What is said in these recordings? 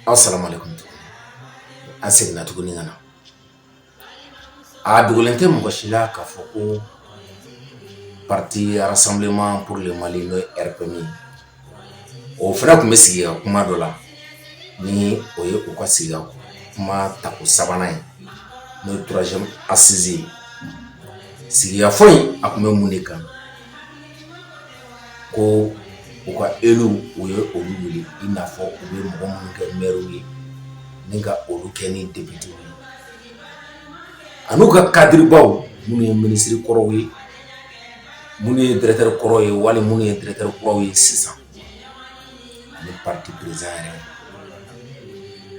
Asalamu alekum an seginna tuguni ka na a dogolen tɛ mɔgɔ si la k'a fɔ ko parti Rassemblement pour le Mali n'o ye RPM o fana tun bɛ sigikakuma dɔ la ni o ye u ka sigikakuma tako sabanan ye n'o ye troisième assise ye sigikafɔ in a tun bɛ mun de kan ko u ka élu u ye olu wele i n'a fɔ u bɛ mɔgɔ minnu kɛ maire ye ni ka olu kɛ ni député ye an'u ka cadrebaw minnu ye minisiri kɔrɔw ye minnu ye directeur kɔrɔw ye wali minnu ye directeur kuraw ye sisan ani parti président yɛrɛ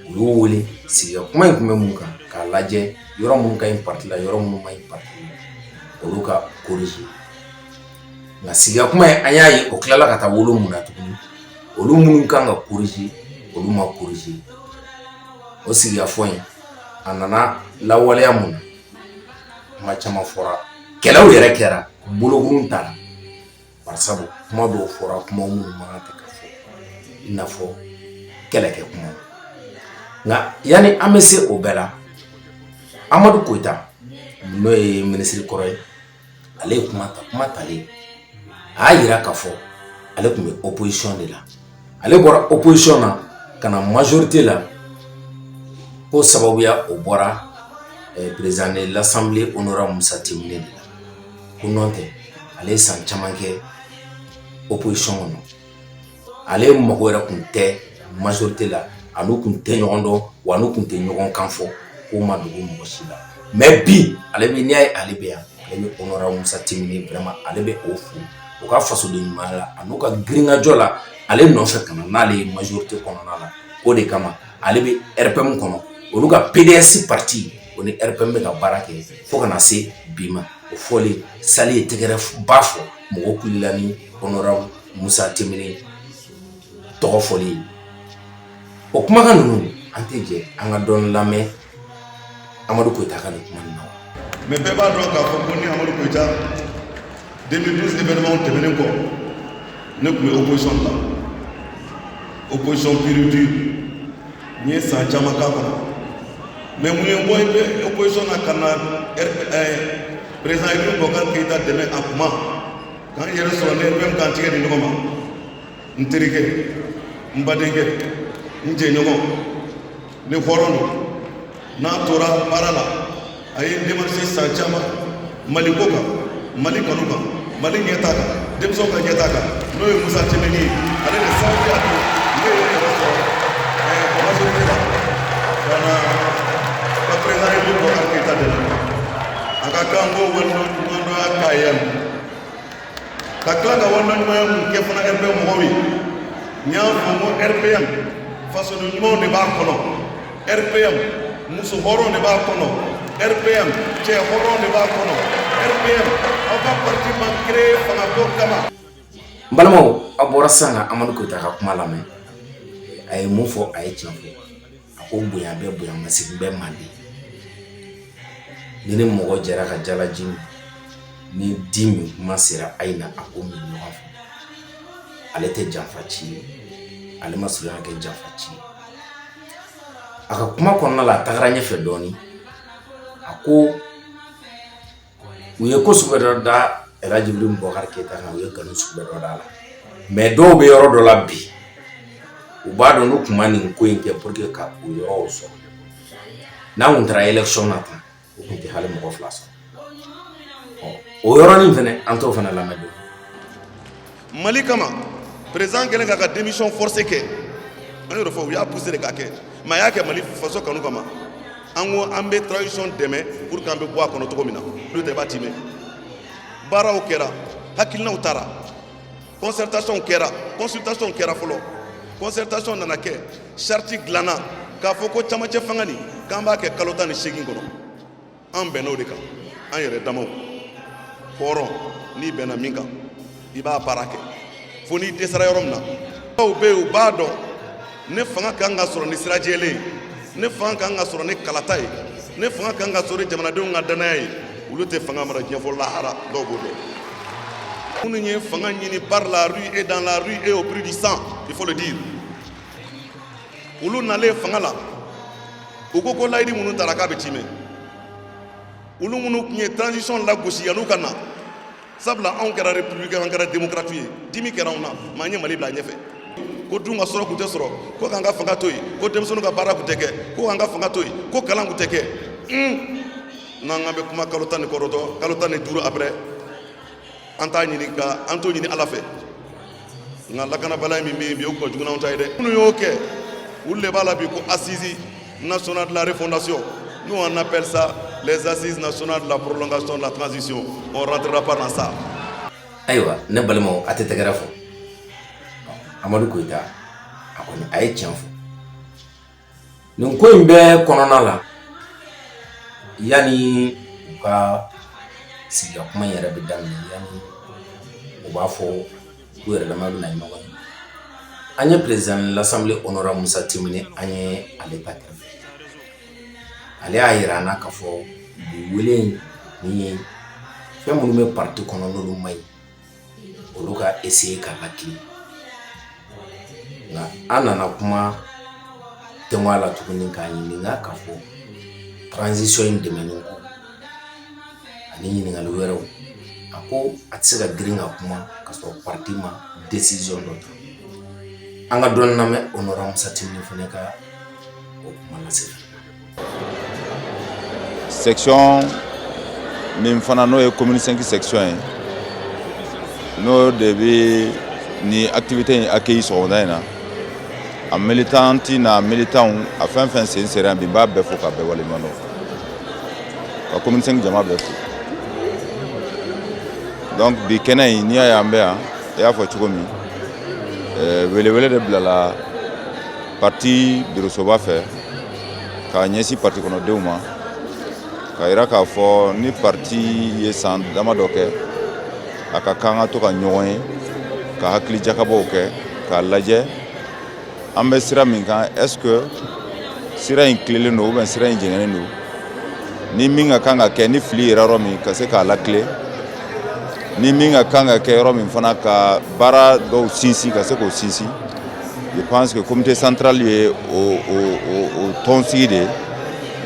u y'u wele sigikakuma in tun bɛ mun kan k'a lajɛ yɔrɔ minnu ka ɲi parti la yɔrɔ minnu ma ɲi parti la olu ka corriger nka sigikakuma in an y'a ye o tilala ka taa wolo mun na tuguni olu minnu kan ka corriger olu ma corriger o sigikafɔ in a nana lawaleya mun na kuma caman fɔra kɛlɛw yɛrɛ kɛra bolokurun tara barisabu kuma dɔw fɔra kuma minnu man kan tɛ ka fɔ i n'a fɔ kɛlɛkɛ kuma nka yanni an bɛ se o bɛɛ la Amadu Koyita n'o ye minisiri kɔrɔ ye ale ye kuma ta kuma talen a y'a jira k'a fɔ ale tun bɛ opposition de la ale bɔra opposition na ka na majorité la ko sababuya o bɔra eh, président de l'assemblée honorable Musa Timbine de la ko nɔntɛ ale ye san caman kɛ opposition kɔnɔ ale mago yɛrɛ tun tɛ majorité la a n'u tun tɛ ɲɔgɔn dɔn wa a n'u tun tɛ ɲɔgɔn kan fɔ k'o ma dogo mɔgɔ si la mais bi ale bɛ n'i y'a ye ale bɛ yan ale bɛ honorable Musa Timbine vraiment ale bɛ o fo u ka fasoden ɲumanya la an'u ka girinkajɔ la ale nɔfɛ ka na n'ale ye majorité kɔnɔna la o de kama ale bɛ RPM kɔnɔ olu ka PDS parti o ni RPM bɛ ka baara kɛ fo ka na se bi ma o fɔlen salle ye tɛgɛrɛba fɔ mɔgɔ kula kɔnɔra musa tɛ tɔgɔ fɔlen o kumakan ninnu an tɛ jɛ an ka dɔn lamɛn amadu kota ka nin kuma na mɛ bɛɛ b'a dɔn k'a fɔ ko ni amadu kota den bɛmaw tɛmɛnen kɔ ne tun bɛ o boyɔn la o boyɔn biiridi N ye san caman k'a kɔnɔ mais mun ye n bɔ opposition na ka na président Ibrahim Bubakar Keyita dɛmɛ a kuma k'an yɛrɛ sɔrɔ ni RPM k'an tɛgɛ di ɲɔgɔn ma n terikɛ n badenkɛ n jɛɲɔgɔn ne hɔrɔn don n'a tora baara la a ye demarise san caman mali ko kan mali kanu kan mali ɲɛta kan denmisɛnw ka ɲɛta kan n'o ye musa tɛnbinɛ ye ale de sababuya don ne ye yɛrɛ sɔrɔ majorité la ka na ka perezidan ibrahim bubakari keyita dɛmɛ a ka kan ko waleɲumandɔnya k'a ye ka tila ka waleɲumanya mun kɛ fana rpm mɔgɔw ye n y'a fɔ n ko rpm fasoden ɲumanw de b'a kɔnɔ RPM muso hɔrɔn de b'a kɔnɔ RPM cɛ hɔrɔn de b'a kɔnɔ RPM aw ka parti ma créé fanga ko kama n balimaw a bɔra sisan ka amadu koyita ka kuma lamɛn a ye mun fɔ a ye tiɲɛ fɔ a ko bonya bɛ bonya masegin bɛ manden ni ni mɔgɔ jɛra ka jalaji min ni di min kuma sera a ye na an k'o min ɲɔgɔn fɛ ale tɛ janfanci ye ale ma surunya kɛ janfanci ye a ka kuma kɔnɔna la a tagara ɲɛfɛ dɔɔnin a ko u ye ko sugu bɛɛ dɔ da Ɛlaji Ibrahim Bubakari Keyita kan u ye nkalon sugu bɛɛ dɔ d'a la mɛ dɔw bɛ yɔrɔ dɔ la bi u b'a dɔn n'u tun ma nin ko in kɛ pour que ka o yɔrɔw sɔrɔ n'an tun taara élection na tan u tun tɛ hali mɔgɔ fila sɔrɔ o yɔrɔnin fana an t'o fana lamɛn don mali kama perezidan kɛlen k'a ka démission forcée kɛ an y'o fɔ u y'a poussé de k'a kɛ mɛ a y'a kɛ mali faso kanu kama an ko an bɛ transition dɛmɛ pour que an bɛ bɔ a kɔnɔ cogo min na olu tɛ b'a timɛ baaraw kɛra hakilinaw tara concertation kɛra consultation kɛra fɔlɔ concertation nana kɛ charte dilanna k'a fɔ ko camancɛ fanga nin k'an b'a kɛ kalo tan ni seegin kɔnɔ an bɛnna o de kan an yɛrɛ damaw hɔrɔn n'i bɛnna min kan i b'a baara kɛ fo n'i dɛsɛra yɔrɔ min na dɔw bɛ yen u b'a dɔn ni fanga ka kan ka sɔrɔ ni sira jɛlen ye ni fanga ka kan ka sɔrɔ ni kalata ye ni fanga ka kan ka sɔrɔ ni jamanadenw ka dannaya ye olu tɛ fanga mara diɲɛ fo lahara dɔw b'o dɔn minnu ye fanga ɲini par la rue et dans la rue et au prix du sang il faut le dire olu nalen fanga la u ko ko layidu minnu tara k'a bɛ tiimɛ olu minnu tun ye transition lagosi yan'u ka na sabula anw kɛra republique an kɛra démocrate ye dimi kɛra anw na mais an ye mali bila ɲɛfɛ ko dun ka sɔrɔ kun tɛ sɔrɔ ko k'an ka fanga to yen ko denmisɛnninw ka baara kun tɛ kɛ ko k'an ka fanga to yen ko kalan kun tɛ kɛ n'an k'an bɛ kuma kalo tan ni kɔnɔntɔn kalo tan ni duuru après an t'a ɲini ka an t'o ɲini ala fɛ nka lakanabaliya min bɛ yen bi o ka jugu n'anw ta ye dɛ minnu y'o kɛ olu de b'a la bi ko assise nationale de la refondation nous on appelle ça les assises nationales de la prolongation de la transition on rentrera pas dans ça ayiwa ne balimaw a tɛ tɛgɛrɛ fɔ amadu koyita a kɔni a ye tiɲɛ fɔ Nin ko in bɛɛ kɔnɔna la yanni u ka sigi ka kuma in yɛrɛ bɛ daminɛ yan u b'a fɔ u yɛrɛ dama bɛna ɲɔgɔn ye an ye président de l'Assemblée honorable Moussa Timbiné an ye ale magɛrɛ ale y'a jira an na k'a fɔ bi wele in ye fɛn minnu bɛ parti kɔnɔ n'olu ma ɲi olu ka essayer k'a lakilen nka an nana kuma tɛmɛ a la tuguni k'a ɲininka k'a fɔ transition in dɛmɛni ko ani ɲininkali wɛrɛw a ko a tɛ se ka girin ka kuma ka sɔrɔ parti ma décision dɔ ta an ka dɔɔni lamɛn honorable Moussa Timbiné fana ka o kuma lase Section min fana n'o ye commune cinq section ye n'o de bɛ nin activité in accueillir sɔgɔmada in na a militante n'a militanw a fɛn fɛn sen sera yan bi n b'a bɛɛ fo k'a bɛɛ waleɲuman dɔn ka commune cinq jama bɛɛ fo donc bi kɛnɛ in n'i y'a ye an bɛ yan i y'a fɔ cogo min welewele de bilala Parti birosoba fɛ k'a ɲɛsin parti kɔnɔdenw ma k'a jira k'a fɔ ni parti ye san dama dɔ kɛ a ka kan ka to ka ɲɔgɔn ye ka hakili jakabɔw kɛ k'a lajɛ an bɛ sira min kan est-ce que sira in tilelen don ou bien sira in jɛngɛnen don ni min ka kan ka kɛ ni fili yera yɔrɔ min ka se k'a latilen ni min ka kan ka kɛ yɔrɔ min fana ka baara dɔw sinsin ka se k'o sinsin je pense que comité central ye o o o tɔnsigi de ye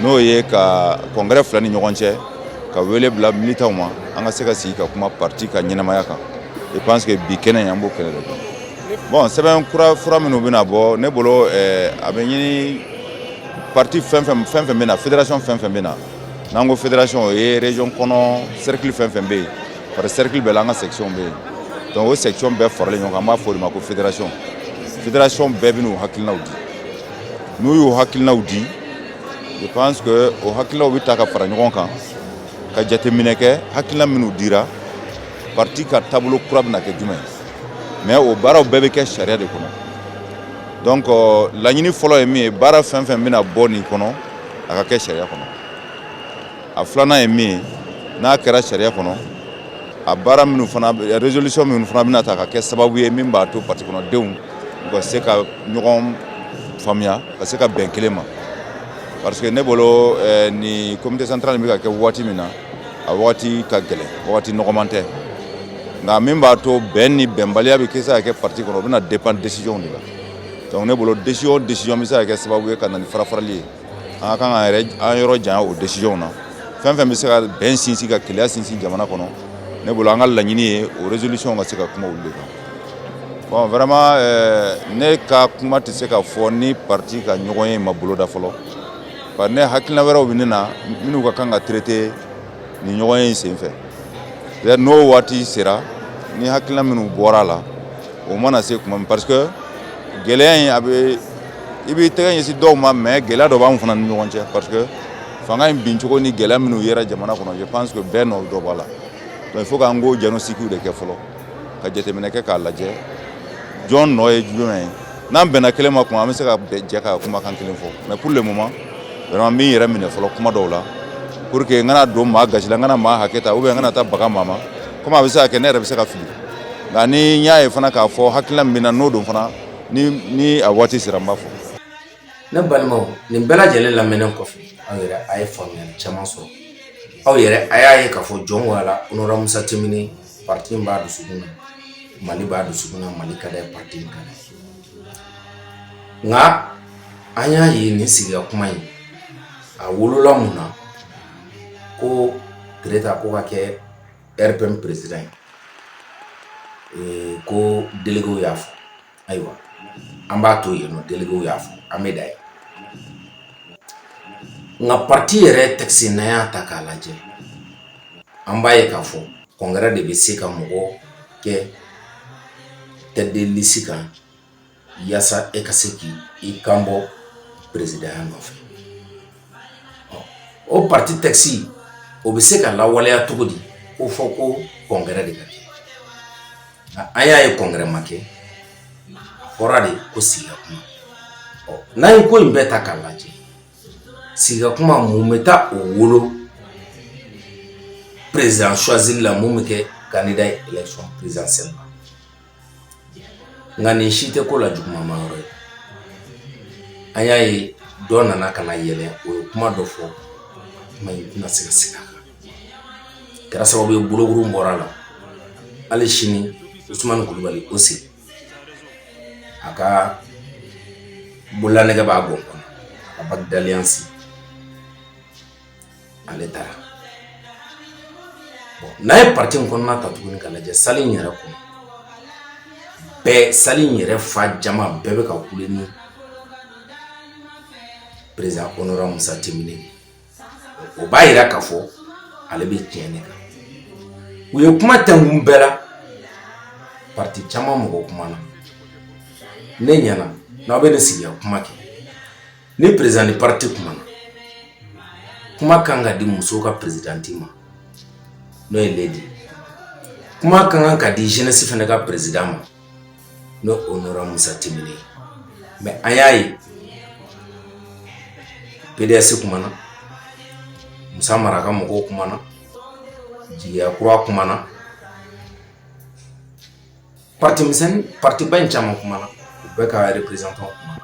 n'o ye ka congrès fila ni ɲɔgɔn cɛ ka wele bila militants ma an ka se ka sigi ka kuma parti ka ɲɛnamaya kan je pense que bi kɛnɛ in an b'o kɛnɛ de kan bon sɛbɛn kura fura minnu bɛna bɔ ne bolo eh, a bɛ ɲini parti fɛ fɛn fɛn bɛ na fédération fɛn fɛn bɛ na n'an ko fédération o ye région kɔnɔ cercle fɛn fɛn bɛ yen Par cercle bɛɛ la an ka section bɛ yen donc o section bɛɛ faralen ɲɔgɔn kan an b'a fɔ o de ma ko fédération fédération bɛɛ bɛn'u hakilinaw di n'u y'u hakilinaw di je pense que o hakilinaw bɛ ta ka fara ɲɔgɔn kan ka jateminɛ kɛ hakilina minnu dira parti ka taabolo kura bɛna kɛ jumɛn mais o baaraw bɛɛ bɛ kɛ sariya de kɔnɔ donc euh, laɲini fɔlɔ ye min ye baara fɛn fɛn bɛna bɔ nin kɔnɔ a ka kɛ sariya kɔnɔ a filanan ye min ye n'a kɛra sariya kɔnɔ a baara minnu fana résolution minnu fana bɛna ta ka kɛ sababu ye min b'a to parti kɔnɔdenw u ka se ka ɲɔgɔn faamuya ka se ka bɛn kelen ma parce que ne bolo eh, ni comité central bɛ ka kɛ waati min na a waati ka gɛlɛn waati nɔgɔman tɛ nka min b'a to bɛn ni bɛnbaliya bɛ kɛ se ka kɛ parti kɔnɔ o bɛna dépend décision de la donc ne bolo décision décision bɛ se ka kɛ sababu ye ka na ni farafarali ye an ka kan ka yɛrɛ an yɔrɔ janya o décision na fɛn fɛn bɛ se ka bɛn sinsin ka kelenya sinsin jamana kɔnɔ ne bolo an ka laɲini ye o résolution ka se ka kuma olu de kan bon vraiment euh, ne ka kuma tɛ se ka fɔ ni parti ka ɲɔgɔnye ma boloda fɔlɔ bari ne hakilina wɛrɛw bɛ ne na minnu ka kan ka traiter nin ɲɔgɔnye in senfɛ n'o waati sera ni hakilina minnu bɔra a la o mana se kuma min parce que gɛlɛya in a bɛ i b'i tɛgɛ ɲɛsin dɔw ma mais gɛlɛya dɔ b'anw fana ni ɲɔgɔn cɛ parce que fanga in bincogo ni gɛlɛya minnu yera jamana kɔnɔ je pense que bɛɛ nɔ dɔ b'a la donc il faut k'an k'o diagnostic de kɛ fɔlɔ ka jateminɛ kɛ k'a lajɛ jɔn nɔ ye jumɛn ye n'an bɛnna kelen ma kuma an bɛ se ka jɛ ka kumakan kelen fɔ mais pour le moment vraiment n bɛ n yɛrɛ minɛ fɔlɔ kuma dɔw la pour que n kana don maa gasi la n kana maa hakɛ ta ou bien n kana taa baga maa ma komi a bɛ se ka kɛ ne yɛrɛ bɛ se ka fili nka ni n y'a ye fana k'a fɔ hakilina min bɛ n na n'o don fana ni a waati sera n b'a fɔ ne balimaw nin bɛɛ lajɛlen lamɛnnen kɔfɛ aw yɛrɛ a ye faamuya caman sɔrɔ aw yɛrɛ a y'a ye k'a fɔ jɔn ko ala honorable musa timbine parti b'a dusukun na mali b'a dusukun na mali ka d'a ye parti ka d'a ye nka an y'a ye nin sigi ka kuma in a wolola mun na ko tereta ko ka kɛ rpm président ee ko délégué y'a fɔ ayiwa an b'a to yen délégué y'a fɔ an bɛ da ye nka parti yɛrɛ texte n'an y'a ta k'a lajɛ an b'a ye k'a fɔ congrès de bɛ se ka mɔgɔ kɛ tête de liste kan walasasa e ka se k i kan bɔ pereya nɔfɛ o pati tɛsi o bɛ se ka la waleya cogo di ko fɔ ko kɔn wɛrɛ de ka kɛ a y'a ye kɔnkɛ ma kɛ fɔra de ko sigi kuma ɔ n'a ye ko in bɛɛ ta k'a lajɛ sigi kuma mun bɛ taa o wolo perezyan suwazali la mun bɛ kɛ kanda yɛlɛcon perezsɛn ma nka nin si tɛ ko la jugumanba yɔrɔ ye an y'a ye dɔ nana ka na yɛlɛ o ye kuma dɔ fɔ kuma in tɛna se ka segin a kan kɛra sababu ye bolokuru bɔra la hali sini usumani kulubali o sigi a ka bololanɛgɛ b'a bɔ kɔnɔ a ka bague d'alliance ale taara n'a ye pati in kɔnɔna ta tuguni ka lajɛ sali in yɛrɛ kɔnɔ bɛɛ sali in yɛrɛ fa jama bɛɛ bɛ ka kule ni perezidan honorable musa temine o b'a jira k'a fɔ ale bɛ tiɲɛ de kan u ye kuma tɛmɛn bɛɛ la pati caman mɔgɔ kumana ne ɲɛ na n'aw bɛ ne sigiya kuma kɛ ni perezidan ni pariti kumana kuma kan ka di musow ka perezidanti ma n'o ye ledi kuma ka kan ka di jenesi fana ka perezidan ma n'o honorable musa temine ye mɛ an y'a ye pds kumana musa mara ka mɔgɔw kumana jigiya kura kumana parti misɛnnin partiba in caman kumana u bɛɛ ka représentant kumana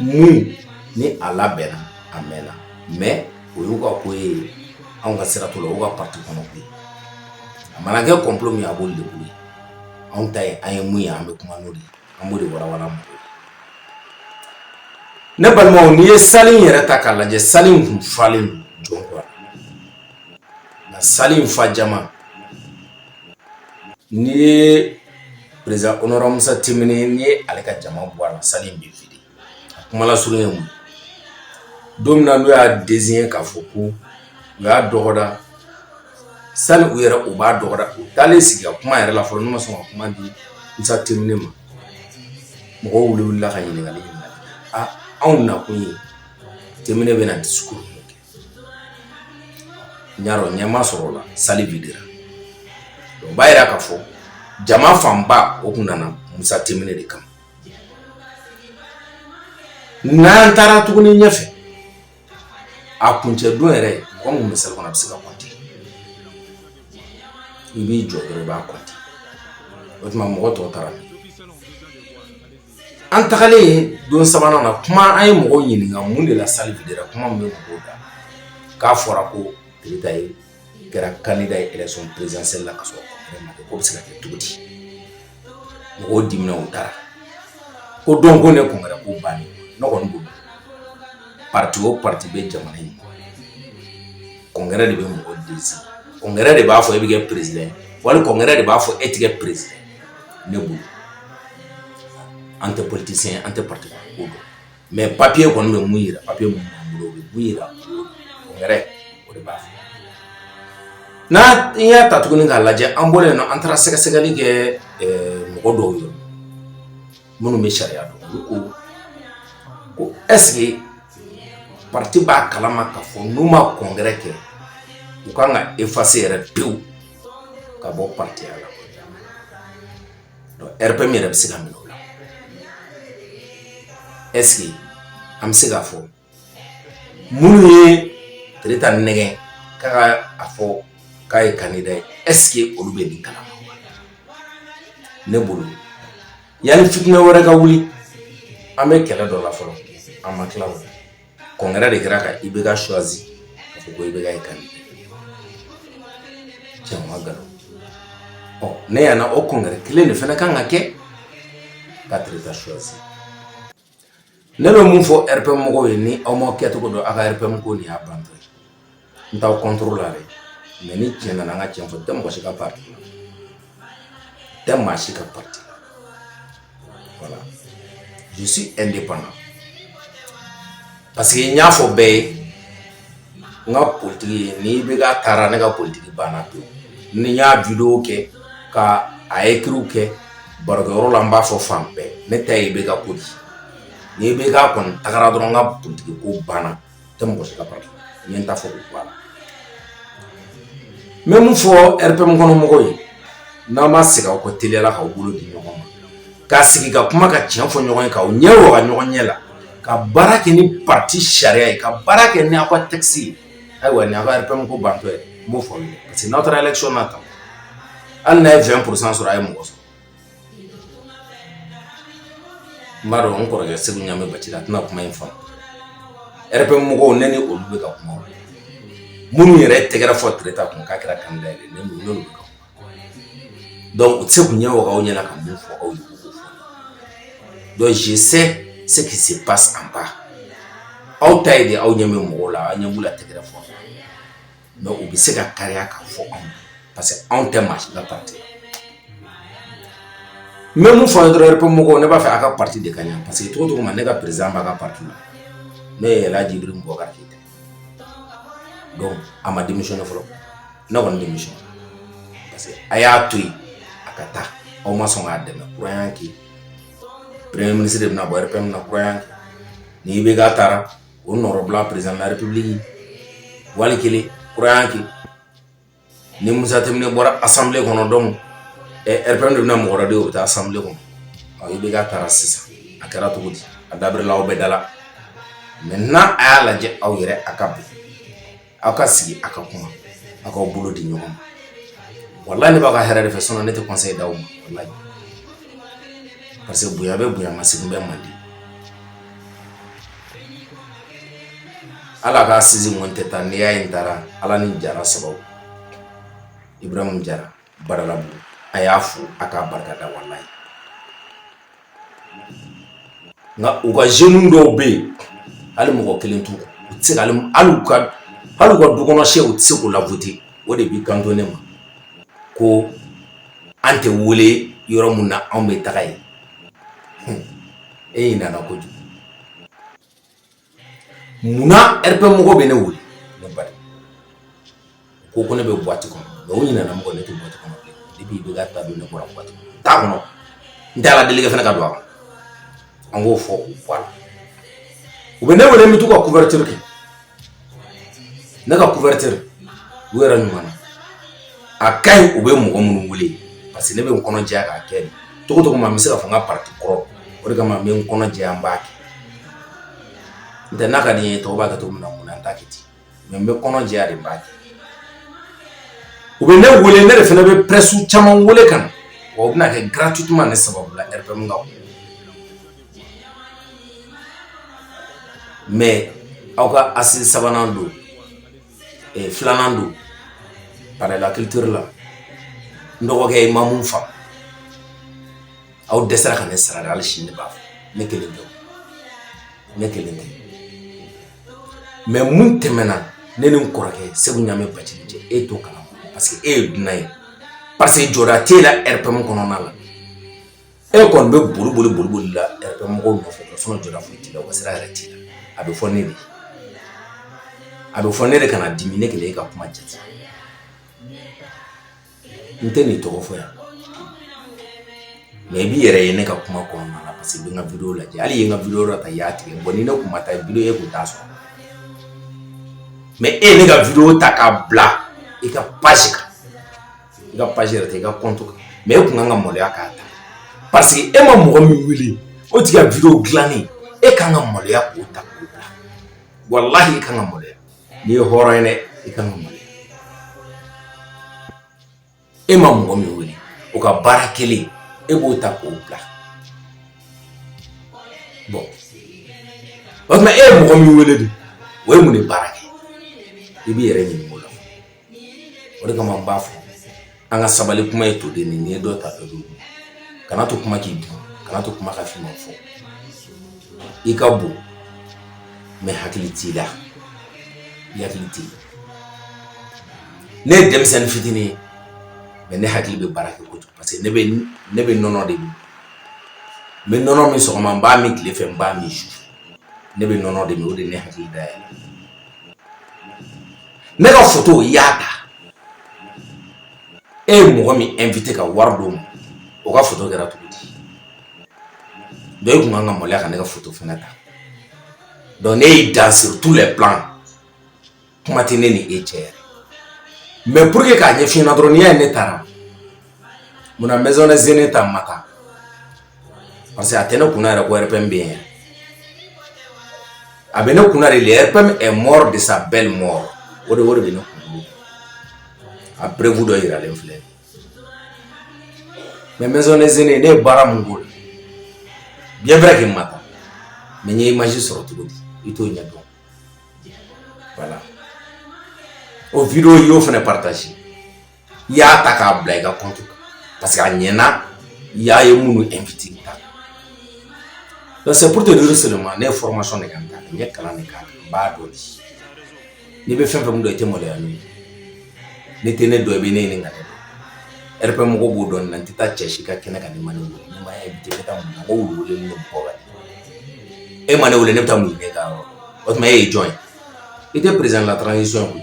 mun ni a labɛnna a mɛnna mɛ o y'u ka ko ye anw ka sira t'o la u ka pati kɔnɔ ko ye a mana kɛ kɔnplo min a b'olu de bolo anw ta ye an ye mun ye an bɛ kuma n'o de ye an b'o de walawala mɔgɔw ye ne balimaw n'i ye sali in yɛrɛ ta k'a lajɛ sali in kun falen don jɔn kɔrɔ nka sali in fa jama n'i ye perezidan honorable musa temine n'i ye ale ka jama bɔ a la sali in bɛ vide a kuma lasurun ye mun don min na n'u y'a désigné k'a fɔ ko u y'a dɔgɔda sani u yɛrɛ u b'a dɔgɔda u taalen sigi ka kuma yɛrɛ la fɔlɔ n'u ma sɔn ka kuma di musa temine ma mɔgɔw wulila wulila ka ɲininkali aa anw nakun ye temine bɛna discours min kɛ n y'a dɔn ɲɛ ma sɔrɔ o la sali videra o b'a yira k'a fɔ jama fanba o kun nana musa temine de kama n'an taara tuguni ɲɛfɛ a kuncɛ don yɛrɛ mɔgɔ mun bɛ sali kɔnɔ a bɛ se ka kɔnte i b'i jɔ dɔrɔn i b'a kɔnte o tuma mɔgɔ tɔw taara min An tagalen don sabanan na kuma an ye mɔgɔ ɲininka mun de la sali videra kuma min bɛ mɔgɔw da k'a fɔra ko Tereta ye kɛra candidat ye élection présidentielle la ka sɔrɔ k'o bɛ se ka kɛ cogo di mɔgɔw dimina u taara ko donc ko ne congrès ko bani ne kɔni bolo pati o pati bɛ jamana in kɔnɔ congrès de bɛ mɔgɔ désigner congrès de b'a fɔ e bɛ kɛ perezidan wali congrès de b'a fɔ e tɛ kɛ perezidan ne bolo an tɛ politisiyɛn an tɛ pati ko dɔn mɛ papiye kɔni bɛ mun jira papiye mun b'an bolo o bɛ mun jira yɛrɛ o de b'a fɔ n'an y'a ta tuguni k'a lajɛ an bɔra yen nɔ an taara sɛgɛsɛgɛli kɛ mɔgɔ dɔw ye minnu bɛ sariya dɔn olu ko ko ɛseke pati b'a kalama ka fɔ n'u ma kɔnkɛrɛ kɛ u kan ka efase yɛrɛ pewu ka bɔ patiya la rpm yɛrɛ bɛ se ka minɛ o la ɛseke an bɛ se k'a fɔ minnu ye Tereta nɛgɛn ka a fɔ k'a ye kandida ye ɛseke olu bɛ nin kalama ne bolo yanni fitinɛ wɛrɛ ka wuli an bɛ kɛlɛ dɔ la fɔlɔ an ma tila o kɔnkɛrɛ de kɛra ka IBK suwazi ka fɔ ko IBK ye kandida cɛ ma galo ɔ ne ɲɛ na o kɔnkɛrɛ kelen de fana kan ka kɛ ka tereta suwazi ne bɛ mun fɔ rpm mɔgɔw ye ni aw ma kɛcogo dɔn aw ka rpm ko nin y'a bantɔ ye n t'aw contre la dɛ mais ni tiɲɛ nana an ka tiɲɛ fɔ tɛ mɔgɔ si ka parti la tɛ maa si ka parti la voilà je suis indépendant parce que n y'a fɔ bɛɛ ye n ka politiki ye ni IBK taara ne ka politiki banna pewu ni n y'a video kɛ ka a écrit kɛ barokɛyɔrɔ la n b'a fɔ fan bɛɛ ne ta ye IBK ko di ni IBK kɔni tagara dɔrɔn n ka politiki ko banna tɛ mɔgɔ si ka parti n ye n ta fɔ k'o bɔ a la n bɛ mun fɔ RPM kɔnɔ mɔgɔw ye n'aw ma segin aw kɔ teliyala k'aw bolo di ɲɔgɔn ma ka sigi ka kuma ka tiɲɛ fɔ ɲɔgɔn ye k'aw ɲɛ waga ɲɔgɔn ɲɛ la ka baara kɛ ni parti sariya ye ka baara kɛ ni aw ka texte ye ayiwa ni aw ka RPM ko bantɔ ye n b'o fɔ aw ye parce que n'aw taara élection na tan hali n'a ye 20 pourcent sɔrɔ a ye mɔgɔ sɔrɔ N b'a dɔn n kɔrɔkɛ Seku Ɲamɛ Bacili a tɛna kuma in faamu RPM mɔgɔw ne ni olu bɛ ka kuma minnu yɛrɛ tɛgɛɛrɛ fɔ Tereta kun k'a kɛra kandida dɔnku u tɛ se k'u ɲɛ waga aw ɲɛ na ka min fɔ aw ye je sais ce qui se passe en bas aw ta ye de aw ɲɛ bɛ mɔgɔw la aw ɲɛ b'u la tɛgɛɛrɛ fɔ mais u bɛ se ka kariya ka fɔ anw ye parce que anw tɛ maa si ka parti la n bɛ mun fɔ aw ye dɔrɔn RPM mɔgɔw ne b'a fɛ aw ka parti de ka ɲɛ parce que cogo o cogo ma ne ka président b'a ka parti la n'o ye Ɛlihaji Ibirimu Bubakari Keyita ye donc a ma démissionner fɔlɔ ne kɔni démissionner parce que a y'a to yen a ka taa aw ma sɔn k'a dɛmɛ kura y'an kin premier ministre de bɛna bɔ RPM na kura y'an kin ni IBK taara o nɔrɔla perezrip wali kelen kurakan kɛ ni musat bɔra a sanfɛ sanbilen kɔnɔ dɔn ɛ p de bɛna mɔgɔ de bɛ taa sanbi kɔnɔ i bɛ ka taara sisan a kɛra cogo di a dabla aw bɛ da la mɛ n' a y'a lajɛ aw yɛrɛ a ka bi aw ka sigi a ka kuma aw k'aw bolo di ɲɔgɔn ma wallahi ne b'a ka hɛrɛ de fɛ sinon ne tɛ conseil d'aw ma wallahi parce que bonya bɛ bonya masegin bɛ mande hali a ka assise n tun tɛ taa n'i y'a ye n taara ala ni jara sababu Ibrahim jara Badalabugu a y'a fo a k'a barika da wallahi nka u ka jeunes dɔw bɛ yen hali mɔgɔ kelen t'u kɔ u tɛ se ka hali u ka dukɔnɔ se u tɛ se k'u lavoter o de b'i kanto ne ma ko an tɛ wele yɔrɔ min na anw bɛ taga yen e ɲinana kojugu munna RPM mɔgɔw bɛ ne wele ne bari ko ko ne bɛ buwati kɔnɔ mais u ɲinana min kɔ ne tɛ buwati kɔnɔ bilen depuis IBK ta don ne bɔra buwati kɔnɔ t'a kɔnɔ n tɛ ala deli kɛ fana ka don a kɔnɔ an k'o fɔ u bɔ a la u bɛ ne wele n bɛ t'u ka couverture kɛ ne ka couverture u yɛrɛ ɲuman na a ka ɲi u bɛ mɔgɔ minnu wele parce que ne bɛ n kɔnɔ jɛya k'a kɛ de cogo cogo n bɛ se ka fɔ n ka parti kɔrɔ o de kama n bɛ n kɔnɔ jɛya n b'a kɛ n tɛ n'a ka di n ye tɔw b'a kɛ cogo min na mun na n t'a kɛ ten mais n bɛ kɔnɔ jɛya de n b'a kɛ u bɛ ne wele ne de fana bɛ presse caman wele ka na wa u bɛna kɛ gratuitement ne sababu la RPM ka mais aw ka assise sabanan don filanan don palais de la culture la n dɔgɔkɛ i ma min faamu aw dɛsɛra ka ne sara hali sini ne b'a fɔ ne kelen ne kelen tɛ mais mun tɛmɛna ne ni n kɔrɔkɛ Seku ɲamɛ Bacili cɛ e t'o kala parce que e ye dunan ye parce que jɔda t'e la RPM kɔnɔna la E kɔni bɛ boli boli boli boli la RPM mɔgɔw nɔfɛ dɔrɔn sinon jɔda foyi t'i la, u ka sira yɛrɛ t'i la, a bɛ fɔ ne de ye, a bɛ fɔ ne de ye kana dimi ne kelen y'e ka kuma jate, n tɛn'i tɔgɔ fɔ yan mais i b'i yɛrɛ ye ne ka kuma kɔnɔna na parce que i bɛ n ka video lajɛ, hali i ye n ka video dɔ ta i y'a tigɛ bon ni ne tun ma taa video e tun t'a sɔrɔ mais e ye ne ka video ta k'a bila i ka page kan i ka page yɛrɛ tɛ i ka compte kan mais e tun kan ka maloya k'a ta parce que e ma mɔgɔ min wele o tigi ka video dilannen e kan ka maloya k'o ta k'o bila walahi i kan ka maloya n'i ye hɔrɔn ye dɛ i kan ka maloya e ma mɔgɔ min wele o ka baara kɛlen e b'o ta k'o bila bon o tuma e ye mɔgɔ min wele de o ye mun de baara kɛ i b'i yɛrɛ ɲininka o de kama n b'a fɔ an ka sabali kuma ye toden nin ye dɔ ta dɔ don kana to kuma k'i dun kana to kuma ka f'i ma fɔ i ka bon mais hakili t'i la i hakili t'i ne ye denmisɛnnin fitinin ye mais ne hakili bɛ baara kɛ kojugu parce que ne bɛ ne bɛ nɔnɔ de min n bɛ nɔnɔ min sɔgɔma n b'a min tile fɛ n b'a min su ne bɛ nɔnɔ de min o de ne hakili da yɛlɛ ne ka foto i y'a ta e ye mɔgɔ min invité ka wari d'o ma o ka foto kɛra cogo di donc e tun kan ka maloya ka ne ka foto fana ta donc ne y'i dan sur tous les plans kuma tɛ ne ni e cɛ yɛrɛ mais pour que k'a ɲɛf'i ɲɛna dɔrɔn n'i y'a ye ne taara munna maison des aînés ta ma taa parce que a tɛ ne kunna yɛrɛ ko RPM bɛ yen a bɛ ne kunna de le RPM est mort de sa belle mort o de o de bɛ ne kun a preuve dɔ yiralen filɛ mais maison des aînés ne ye baara mun k'o la bien vrai que n ma taa mais n ye image sɔrɔ cogo di i t'o ɲɛ dɔn voilà o video i y'o fana partagé i y'a ta k'a bila i ka compte kan parce que a ɲɛna i y'a ye minnu invité ta donc c'est pour te dire seulement ne ye formation de kɛ n ta n ye kalan de k'a kan n b'a dɔn de n'i bɛ fɛn fɛn mun dɔn i tɛ maloya n'o ye n'i tɛ ne dɔn i bɛ ne ɲininka ne dɔn RPM mɔgɔw b'o dɔn nin na n tɛ taa cɛ si ka kɛnɛ kan n'i ma ne wele n'i ma invité n bɛ taa mɔgɔw wele ni ne bɔ ka e ma ne wele ne bɛ taa mun de kɛ e ka yɔrɔ o tuma e ye jɔn ye i tɛ président de la transition ye koyi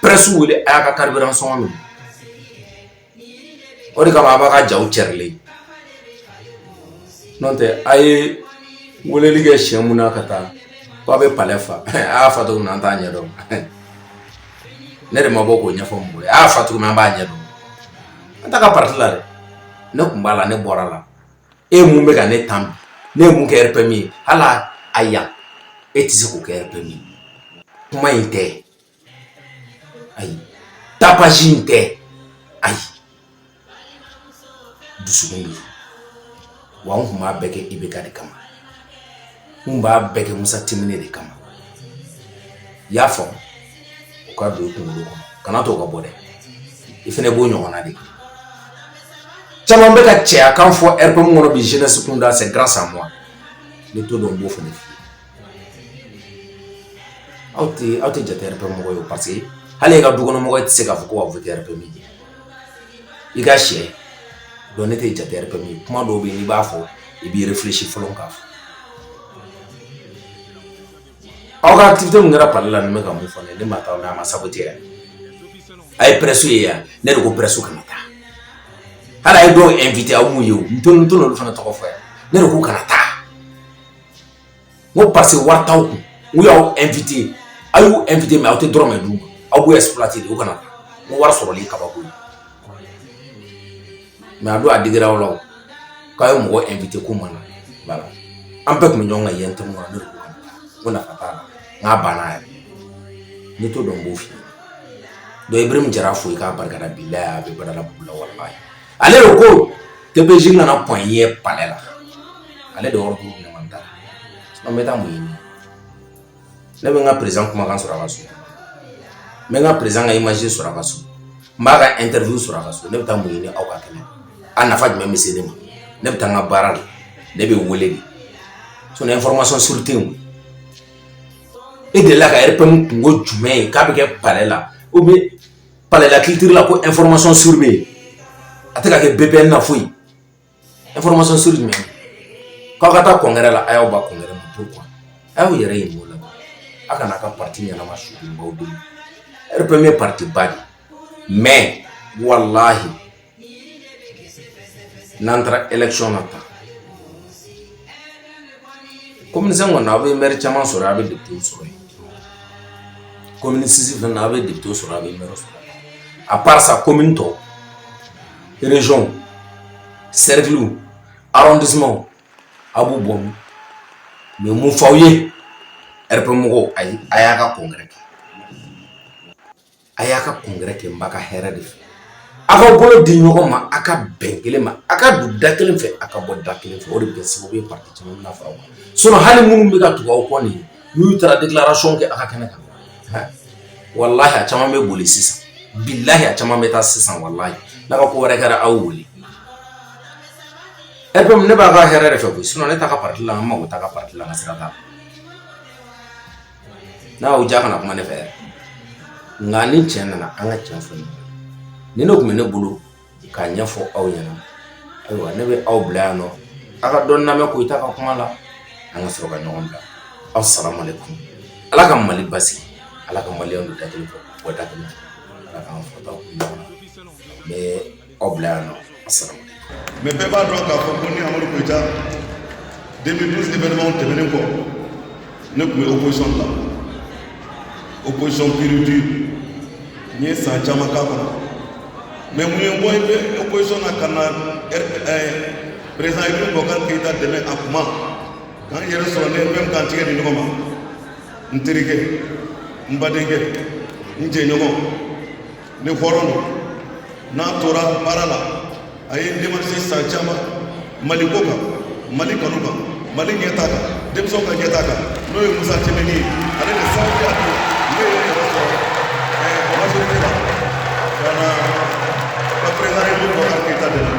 presse wele a y'a ka carburant sɔngɔ minɛ o de kama a b'a ka jaw cɛrilen n'o tɛ a ye weleli kɛ siɲɛ min na ka taa k'a bɛ palais fa a y'a fa cogo min an t'a ɲɛ dɔn ne de ma bɔ k'o ɲɛfɔ mɔgɔ ye a y'a fa cogo min an b'a ɲɛ dɔn an t'a ka parti la dɛ ne tun b'a la ne bɔr'a la e mun bɛ ka ne tan ne ye mun kɛ RPM ye hali a yan e tɛ se k'o kɛ RPM ye kuma in tɛ Ayi tapage in tɛ ayi dusukun de wa n kun b'a bɛɛ kɛ IBK de kama n kun b'a bɛɛ kɛ Musa Timbine de kama i y'a faamu o ka don i kunkolo kɔnɔ kana to ka bɔ dɛ i fana b'o ɲɔgɔnna de kɛ caman bɛ ka cɛyakan fɔ RPM kɔnɔ bi jeunesse kunda c'est grâce à moi n'i t'o dɔn n b'o fana f'i ye Aw tɛ aw tɛ jate RPM mɔgɔ ye parce que hali i ka dukɔnɔmɔgɔ tɛ se k'a fɔ ko ka voter RPM ye i ka sɛ donc ne tɛ jate RPM ye kuma dɔw bɛ yen n'i b'a fɔ i b'i réfléchir fɔlɔ k'a fɔ aw ka activité min kɛra palais la bɛ ka mun fɔ ne ma taa a ma saboter yan a ye presse ye yan ne de ko presse kana taa hali a ye dɔw invité aw mun ye n tɛ n t'olu fana tɔgɔ fɔ yan ne de ko kana taa n ko parce que wari t'aw kun n ko y'aw invité aw y'u invité mais aw tɛ dɔrɔmɛ d'u ma aw b'u exploité de u kana taa n ko wari sɔrɔli ye kabako ye mais a don a digira aw la o k'a ye mɔgɔ invité k'u ma na voilà an bɛɛ tun bɛ ɲɔgɔn kan yen tɛ mun na ne de ko kana taa n ko nafa t'a la n k'a banna yɛrɛ n'i t'o dɔn n b'o f'i ye donc Ibrahim Jara fo i k'a barika da bilahi a bɛ Badalabugu la walahi ale de ko TPJ nana pɔn ye palais la ale de yɔrɔ b'o ɲɔgɔn ta n bɛ taa mun ɲini ne bɛ n ka président kumakan sɔrɔ a ka so n bɛ n ka président ka image sɔrɔ a ka so n b'a ka interview sɔrɔ a ka so ne bɛ taa mun ɲini aw ka kɛnɛ a nafa jumɛn bɛ se ne ma ne bɛ taa n ka baara la ne bɛ wele de sinon information sûre tɛ yen e delila ka RPM kunko jumɛn ye k'a bɛ kɛ palais la ou bien palala kitiri la ko e fmasɔn suru bɛ yen a tɛ ka kɛ bɛɛ bɛ na fo yen e fmasɔn suru jumɛn k'aw ka taa kɔnkɛ la a y'aw ba kun ma to kuwa a y'aw yɛrɛ ye mɔgɔ la aw kana ka pati ɲɛnama subaw don e bɛ min ye pati ba de mɛ walahi n'an taara élection na tan komini cinq kɔni aw bɛ mɛri caman sɔrɔ aw bɛ depitew sɔrɔ yen komini six fɛnɛ na aw bɛ depitew sɔrɔ aw bɛ mɛri sɔrɔ à part ça komini tɔw région cercle arrondissement aw b'u bɔnɛ mais n b'o f'aw ye RPM mɔgɔw ayi a y'a ka congrès kɛ a y'a ka congrès kɛ n b'a ka hɛrɛ de fɛ aw ka bolo di ɲɔgɔn ma aw ka bɛn kelen ma aw ka don da kelen fɛ aw ka bɔ da kelen fɛ o de bɛ kɛ sababu ye pati caman na fara o kan sinon hali minnu bɛ ka tugu aw kɔ nin n'u taara déclaration kɛ aw ka kɛnɛ kan walahi a caman bɛ boli sisan bilayi a caman bɛ taa sisan walayi n'a ka congrès kɛra aw wele RPM ne b'a ka hɛrɛ de fɛ koyi ne t'a ka pati la n mago t'a ka pati la n ka sira t'a la n'a y'aw diya kana kuma ne fɛ nka ni tiɲɛ nana an ka tiɲɛ fɔ nin de tun bɛ ne bolo k'a ɲɛfɔ aw ɲɛna ayiwa ne bɛ aw bila yan nɔ aw ka dɔ lamɛn koyita ka kuma la an ka sɔrɔ ka ɲɔgɔn bila aw salamu aleykum ala ka mali basigi ala ka maliyɛnw don da kelen fɛ u ka bɔ da kelen fɛ ala k'an fɔtaw kun ɲɔgɔn na n bɛ aw bila yan nɔ asalamu mɛ bɛɛ b'a dɔn k'a fɔ ko ne amadu koyita 2012 événement tɛmɛnen kɔ ne tun bɛ opposition la opposition pure dure n ye san caman k'a kɔnɔ mɛ mun ye n bɔ i bɛ opposition na ka na président ibrahim bubakari keyita dɛmɛ a kuma k'an yɛrɛ sɔrɔ ne même k'an tigɛ di ɲɔgɔn ma n terikɛ n badenkɛ n jɛɲɔgɔn ni hɔrɔn don n'a tora baara la a ye démarché san caman mali ko kan mali kanu kan mali ɲɛta kan denmisɛnw ka ɲɛta kan n'o ye musa timbine ye ale de sababu y'a to ne ye yɛrɛ sɔrɔ ɛɛ majorité la ka na ka président ibrahim bubakari keyita dɛmɛ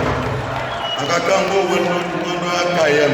a ka kan k'o waleɲumandɔnya k'a ye yan